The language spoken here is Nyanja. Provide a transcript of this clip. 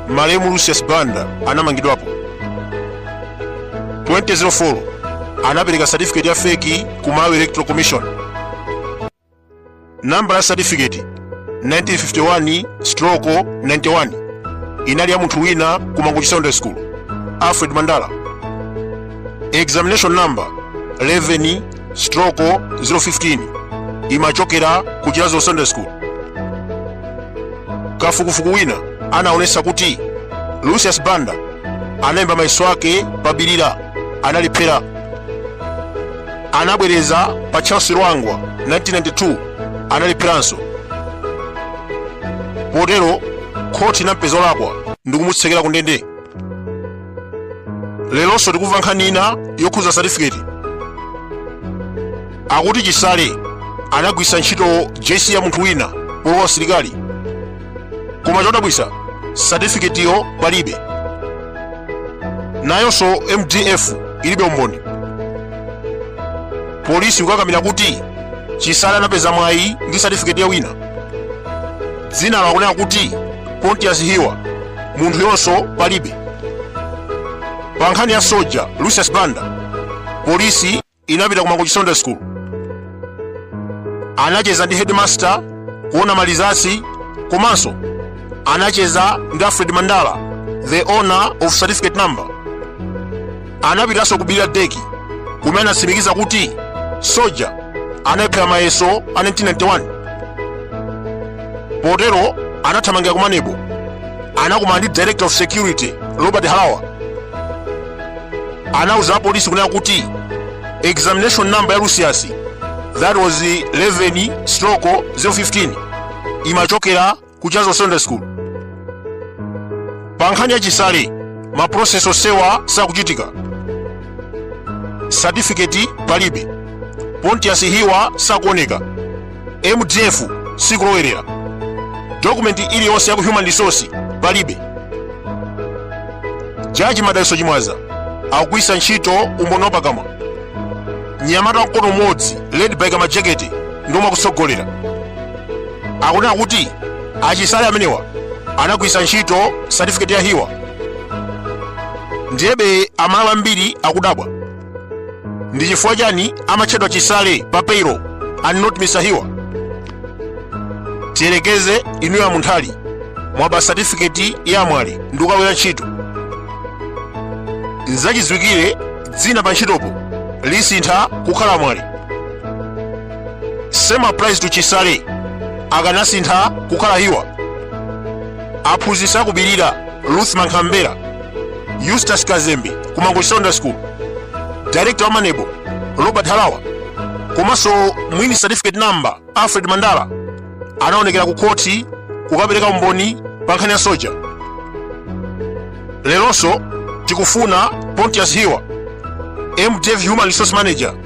malemu lucius banda anamangidwapo 2004 anapereka certificate ya feki ku malawi electoral commission nambala ya certificate 1951 stroko 91 inali ya munthu wina ku mangochi secondary school alfred mandala examination number 11 stroko 015 imachokera ku chiradzulu secondary school kafukufuku wina anaonesa kuti lucius banda analemba mayeso ake pa bilira analephera anabwereza pa charles lwanga 1992 analepheranso potero khoti inampeza olakwa ndikumutsekera ku ndende leronso tikumva nkhani ina yokhuza satifiketi akuti chisale anagwisa ntchito jc ya munthu wina polowa usilikali koma chodabwisa satifiketiyo palibe nayonso mdf ilibe umboni polisi ikukakamira kuti chisale anapeza mwayi ndi satifiketi ya wina dzina lakunena kuti pontius hiwa munthuyonso palibe pa nkhani ya soja lucius banda polisi inapita ku mangochi secondary school anacheza ndi headmaster kuona ma results komanso anacheza ndi alfred mandala the owner of certificate number anapitanso ku Bilira DEC kumene anatsimikiza kuti Soja analephera mayeso a 1991 potero anathamangira ku maneb anakumana ndi director of security robert harawa anauza apolisi kunena kuti examination number ya lucius that was 11 stroke 015 imachokera ku chiradzulu secondary school pa nkhani ya chisale ma process osewa sakuchitika certificate palibe pontius hiwa sakuoneka mdf sikulowerera dokumenti iliyonse ya ku human resource palibe jaji madalitso chimwaza akugwiritsa ntchito umboni wapakamwa mnyamata wa mkono umodzi led by kamajekete ndiomwe akutsogolera akunena kuti achisale amenewa anagwiritsa ntchito satifiketi ya hiwa ndiyebe amalawi ambiri akudabwa ndi chifukwa chani amatchedwa chisale pa payroll and not mr hiwa tiyerekeze inuyo a munthali mwaba satifiketi ya a mwale ndi kukagwira ntchito nzachidziwikire dzina pa ntchitopo lisintha kukhala a mwale same applies to chisale akanasintha kukhala hiwa aphunzitsi akubirira ruth mankhambera eustace kazembe ku mangochi secondary school director wa maneb robert halawa komanso mwini certificate number alfred mandala anaonekera ku khoti kukapereka umboni pa nkhani ya msoja leronso tikufuna pontius hiwa mdf human resource manager